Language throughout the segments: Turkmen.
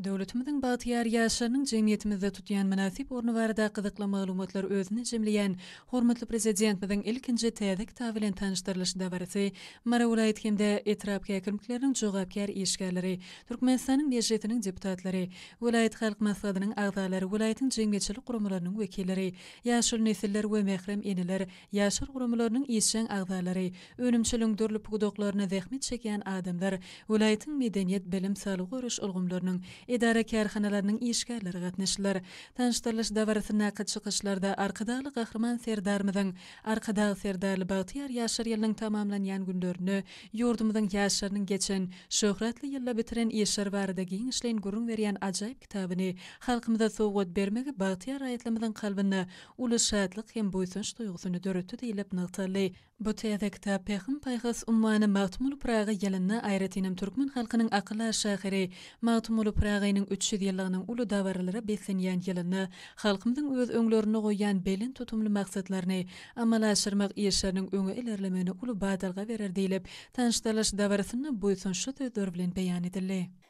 Döwletimiziň bagtyýar ýaşlarynyň jemgyýetimizde tutýan mynasyp orny barada gyzykly maglumatlar özünde jemleýän hormatly Prezidentimiziň ilkinji täze kitaby bilen tanyşdyrylyş dabarasy Mary welaýat hem-de etrap häkimlikleriniň jogapkär işgärleri, Türkmenistanyň Mejlisiniň deputatlary, welaýat halk maslahatynyň agzalary, welaýatyň jemgyýetçilik guramalarynyň wekilleri, ýaşuly nesiller we mährem eneler, Ýaşlar guramalarynyň işjeň agzalary, önümçiligiň dürli pudaklarynda zähmet çekýän adamlar, welaýatyň medeniýet, bilim, saglygy goraýyş ulgamlarynyň, edara-kärhanalarynyň işgärleri gatnaşdylar. Tanyşdyrylyş dabarasyndaky çykyşlarda Arkadagly Gahryman Serdarymyzyň Arkadag Serdarly bagtyýar ýaşlar ýylynyň tamamlanýan günlerinde ýurdumyzyň ýaşlarynyň geçen, şöhratly ýylda bitiren işleri barada giňişleýin gürrüň berýän ajaýyp kitabyny halkymyza sowgat bermegi bagtyýar raýatlarymyzyň kalbynda uly şatlyk hem buýsanç duýgusyny döretdi diýlip nygtaldy. Bu täze kitap Pähim-paýhas ummany Magtymguly Pyragy ýylynda aýratynam türkmen halkynyň akyl-a şahyry Magtymguly Pyragynyň üç ýüz ýyllygynyň uly dabaralara beslenýän ýylynda halkymyzyň öz öňlerinde goýýan belent tutumly maksatlaryny amala aşyrmak işleriniň öňe ilerlemegine uly badalga berer diýlip, tanyşdyrylyş dabarasynda buýsançly sözler bilen beýan edildi.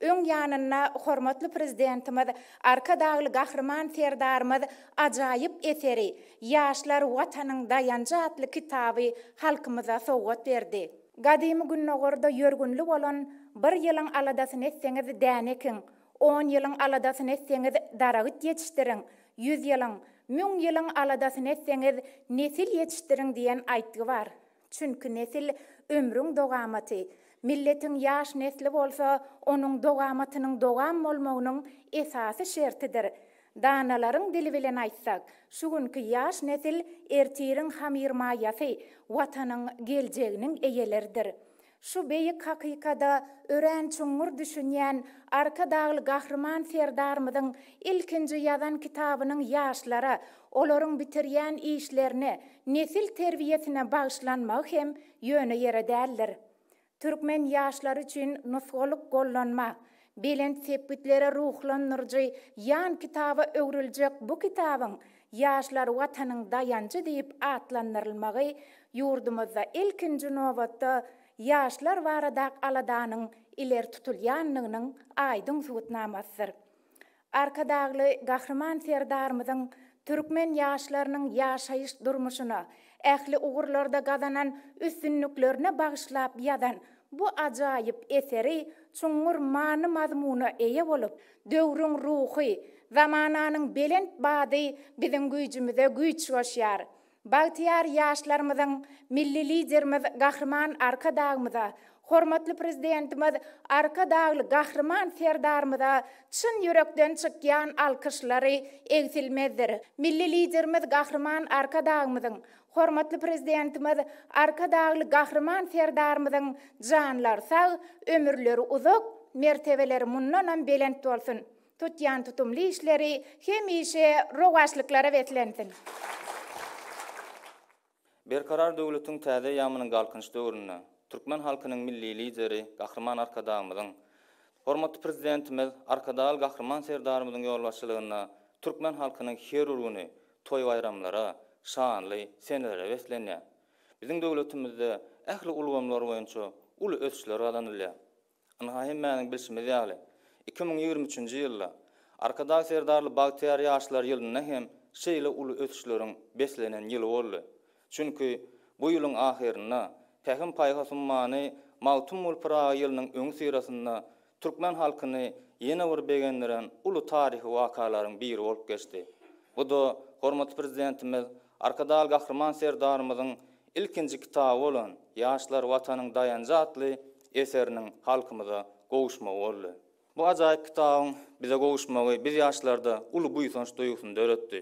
Öň ýanynda hormatly Prezidentimiz Arkadagly Gahryman Serdarymyz ajaýyp eseri, Ýaşlar, Watanyň daýanjy atly kitaby halkymyza sowgat berdi. Gadymy Gündogarda ýörgünli bolan Bir ýylyň aladasyny etseňiz, däne ekiň, on ýylyň aladasyny etseňiz, daragyt ýetişdiriň, ýüz ýylyň, müň ýylyň aladasyny etseňiz, nesil ýetişdiriň diýen aýtgy bar. Çünki nesil, ömrüň dogamaty. Milletiň ýaş nesli bolsa, onuň dogamatynyň dogam bolmagynyň esasy şertidir. Danalaryň dili bilen aýtsak, şu günki ýaş nesil ertiriň hamyrmaýasy, Watanyň geljeginiň eýeleridir. Şu beýik hakykada örän çuňňur düşünýän Arkadagly Gahryman Serdarymyzyň ilkinji ýazan kitabynyň ýaşlara, olaryň bitirýän işlerine, nesil terbiýesine bagyşlanmagy hem ýöne ýere däldir. Türkmen ýaşlary üçin nusgalyk gollanma, belent sepgitlere ruhlandyryjy ýan kitaba öwrüljek bu kitabyň Ýaşlar Watanyň daýanjy diýip atlandyrylmagy ýurdumyzda ilkinji nobatda ýaşlar baradak aladanyň ileri tutulýandygynyň aýdyň subutnamasydyr. Arkadagly Gahryman Serdarymyzyň türkmen ýaşlarynyň ýaşaýyş-durmuşyna, ähli ugurlarda gazanan üstünliklerine bagyşlap ýazan bu ajaýyp eseri çuňňur many-mazmuna eýe bolup, Döwrüň ruhy, zamananyň belent bady biziň güýjümize güýç goşýar. Bagtyýar ýaşlarymyzyň Milli Liderimiz Gahryman Arkadagymyza, hormatly Prezidentimiz Arkadagly Gahryman Serdarymyza çyn ýürekden çykýan alkyşlary egsilmezdir. Milli Liderimiz Gahryman Arkadagymyzyň Hormatly Prezidentimiz Arkadagly Gahryman Serdarymyzyň janlary sag, ömürleri uzak, mertebeleri mundanam belent bolsun, tutýan tutumly işleri hemişe rowaçlyklara beslensin! Berkarar döwletiň täze eýýamynyň Galkynyş döwründe türkmen halkynyň Milli Lideri Gahryman Arkadagymyzyň, hormatly Prezidentimiz Arkadagly Gahryman Serdarymyzyň ýolbaşçylygynda türkmen halkynyň her bir güni toý-baýramlara, şanly senelere beslenýär. Biziň döwletimizde ähli ulgamlar boýunça uly ösüşler gazanylýar. Ynha hemmäniň bilşimiz ýaly, iki müň ýigrimi üçünji ýylda Arkadag Serdarly bagtyýar ýaşlar ýylynda hem şeýle uly ösüşleriň beslenen ýyly boldy. Çünki bu ýylyň ahyrynda Pähim-paýhas ummany Magtymguly Pyragy ýylynyň öňüsyrasynda türkmen halkyny ýene bir begendiren uly taryhy wakalaryň biri bolup geçdi. Bu-da hormatly Prezidentimiz Arkadag Gahryman Serdarymyzyň ilkinji kitaby bolan Ýaşlar Watanyň daýanjy atly eseriniň halkymyza gowuşmagy boldy. Bu ajaýyp kitabyň bize gowuşmagy biz ýaşlarda uly buýsanç duýgusyny döretdi.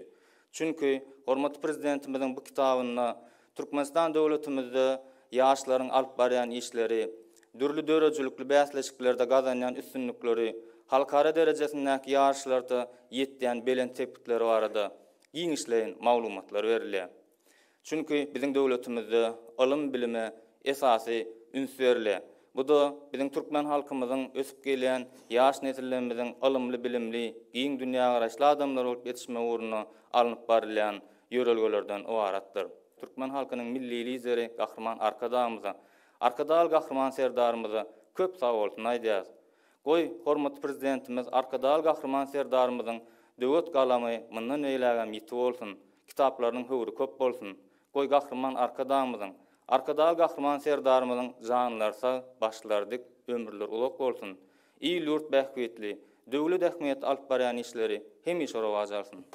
Çünki, hormatly Prezidentimiziň bu kitabynda Türkmenistan döwletimizde ýaşlaryň alyp barýan işleri, dürli döredijilikli bäsleşiklerde gazanýan üstünlikleri, halkara derejesindäki ýaryşlarda ýetýän belent sepgitleri barada giňişleýin maglumatlar berilýär. Çünki biziň döwletimizde ylym-bilime esasy üns berile. Bu-da biziň türkmen halkymyzyň ösüp gelýän ýaş nesillerimiziň ylymly-bilimli, giň dünýägaraýyşly adamlar bolup ýetişmegi ugrunda alnyp barylýan ýörelgelerden ybaratdyr. Türkmen halkynyň Milli Lideri Gahryman Arkadagymyza, Arkadagly Gahryman Serdarymyza köp sagbolsun aýdýarys. Goý, hormatly Prezidentimiz Arkadag Gahryman Serdarymyzyň döwet galamy mundan beýlägem ýiti bolsun, kitaplarynyň höwri köp bolsun! Goý, Gahryman Arkadagymyzyň, Arkadag Gahryman Serdarymyzyň janlary sag, başlary dik, ömürleri uzak bolsun! Il-ýurt bähbitli, döwlet ähmiýetli alyp barýan işleri hemişe rowaç alsyn!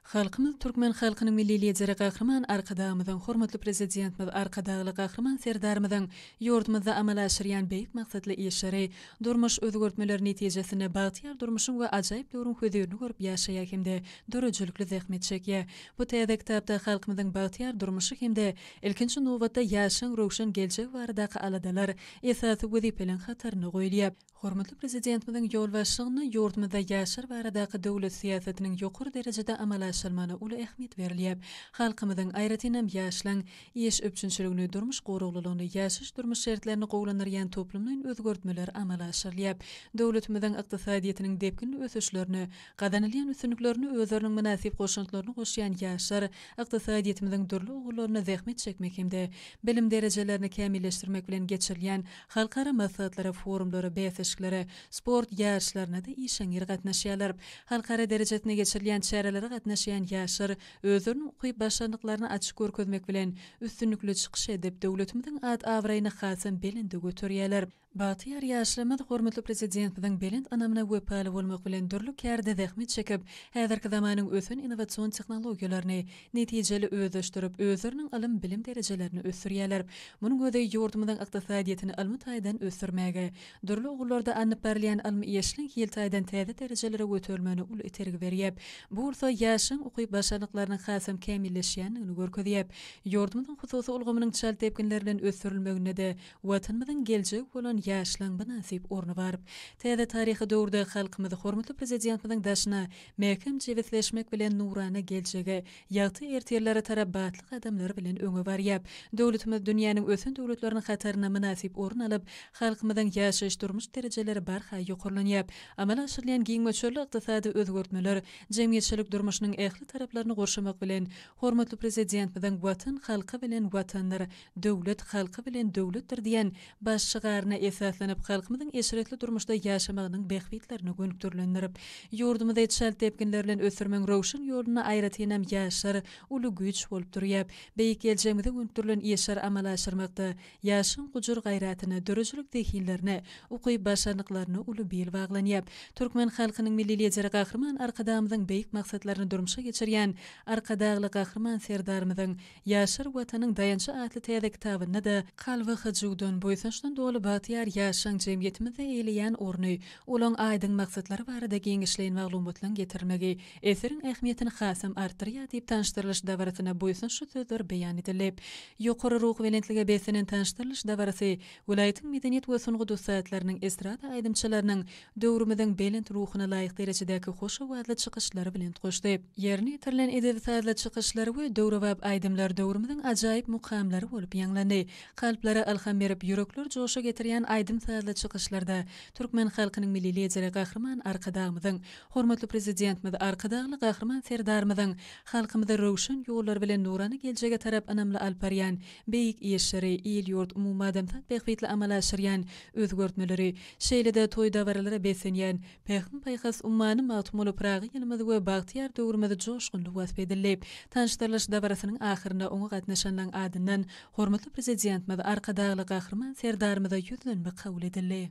Halkymyz Türkmen halkynyň Milli Lideri Gahryman Arkadagymyzyň, Hormatly Prezidentimiz Arkadagly Gahryman Serdarymyzyň ýurdumyzda amala aşyrýan beýik maksatly işleri, durmuş özgertmeleri netijesinde bagtyýar durmuşyň we ajaýyp döwrüň hözirini görüp ýaşaýar hem-de döredijilikli zähmet çekýär. Bu täze kitapda halkymyzyň bagtyýar durmuşy hem-de, ilkinji nobatda, ýaşlaň röwşen geljegi baradaky aladalar esasy wezipeleň hatarynda goýulýar. Hormatly Prezidentimiziň ýolbaşçylygynda ýurdumyzda ýaşlar baradaky döwlet syýasatynyň ýokary derejede amala aşyrylmagyna uly ähmiýet berilýär. Halkymyzyň, aýratynam, ýaşlaryň iş üpjünçiligini, durmuş goraglylygyny, ýaşaýyş-durmuş şertlerini gowulandyrýan toplumlaýyn özgertmeler amala aşyrylýar. Döwletimiziň ykdysadyýetiniň depginli ösüşlerine, gazanylýan üstünliklerine özleriniň mynasyp goşantlaryny goşýan ýaşlar ykdysadyýetimiziň dürli ugurlarynda zähmet çekmek hem-de bilim derejelerini kämilleşdirmek bilen geçirilýän Halkara maslahatlara, forumlara, bäsleşiklere, sport ýaryşlaryna-da işeňňir gatnaşýarlar. Halkara derejesinde geçirilýän çärelere gatnaşýan ýaşlar özleriniň ukyp başarnyklaryny açyk görkezmek bilen, üstünlikli çykyş edip, döwletimiziň at-abraýyny hasam belende göterýärler. Bagtyýar ýaşlarymyz hormatly Prezidentimiziň belent ynamyna wepaly bolmak bilen, dürli kärde zähmet çekip, häzirki zamanyň ösen innowasion tehnologiýalaryny, netijeli özleşdirip, özleriniň ylym-bilim derejelerini ösdürýärler. Munuň özi ýurdumyzyň ykdysadyýetini ylmy taýdan ösdürmäge, dürli ugurlarda alnyp barylýan ylmy işliň hil taýdan täze derejelere göterilmegine uly itergi berýär. Bu bolsa ýaşlaryň ukyp-başarnyklarynyň hasam kämilleşýändigini görkezýär. Ýurdumyzyň hususy ulgamynyň çalt depginler bilen ösdürilmeginde-de Watanymyzyň geljegi bolan ýaşlaryň mynasyp orny bar. Täze taryhy döwürde halkymyz hormatly Prezidentimiziň daşyna Mäkäm jebisleşmek bilen nurana geljege, ýagty ertirlere tarap batly gadamlar bilen öňe barýar. Döwletimiz dünýäniň ösen döwletleriniň hatarynda mynasyp orun alyp, halkymyzyň ýaşaýyş-durmuş derejeleri barha ýokarlanýar. Amala aşyrylýan giň möçberli ykdysady özgertmeler jemgyýetçilik durmuşynyň ähli taraplaryny gurşamak bilen, hormatly Prezidentimiziň Watan halky bilen Watandyr! Döwlet halky bilen döwletdir diýen baş şygaryna esaslanyp, halkymyzyň eşretli durmuşda ýaşamagynyň bähbitlerine gönükdirilendir. Ýurdumyzy çalt depginler bilen ösdürmegiň röwşen ýolunda aýratynam ýaşlar uly güýç bolup durýar. Beýik geljegimize gönükdirilen işleri amala aşyrmakda ýaşlaryň gujur-gaýratyna, döredijilik zehinlerine, ukyp-başarnyklaryna uly bil baglanýar. Türkmen halkynyň Milli Lideri Gahryman Arkadagymyzyň beýik maksatlaryny durmuşa geçirýän Arkadagly Gahryman Serdarymyzyň Ýaşar Watanyň daýançy atly täze kitabynda-da kalby hyjuwdan, buýsançdan doly bagtyýar ýaşlaň jemgyýetimizde eýleýän orny, olaň aýdyň maksatlary barada giňişleýin maglumatlaň getirilmegi eseriň ähmiýetini hasam artdyrýar diýip tanyşdyrylyş dabarasyna buýsançly sözler beýan edildi. Ýokary ruhubelentlige beslenen tanyşdyrylyş dabarasy welaýatyň medeniýet we sungat ussatlarynyň estrada aýdymçylarynyň döwrümiziň belent ruhuna laýyk derejedäki hoş owazly çykyşlary bilen goşdy. Ýerine ýetirilen edebi-sazly çykyşlar we döwrebap aýdymlar döwrümiziň ajaýyp mukamlary bolup ýaňlandy. Kalplara ylham berip, ýürekleri joşa getirýän aýdym-sazly çykyşlarda türkmen halkynyň Milli Lideri Gahryman Arkadagymyzyň, hormatly Prezidentimiz Arkadagly Gahryman Serdarymyzyň halkymyzy röwşen ýollar bilen nurana geljege tarap ynamly alyp barýan beýik işleri, il-ýurt, umumadamzat bähbitli amala aşyrýan özgertmeleri, Şeýle-de toý-dabaralara beslenýän Pähim-paýhas ummany Magtymguly Pyragy ýylymyz we bagtyýar döwrümiz joşgunly wasp edildi. Tanyşdyrylyş dabarasynyň ahyrynda oňa gatnaşanlaryň adyndan hormatly Prezidentimiz Arkadagly Gahryman Serdarymyza ýüzlenme kabul edildi.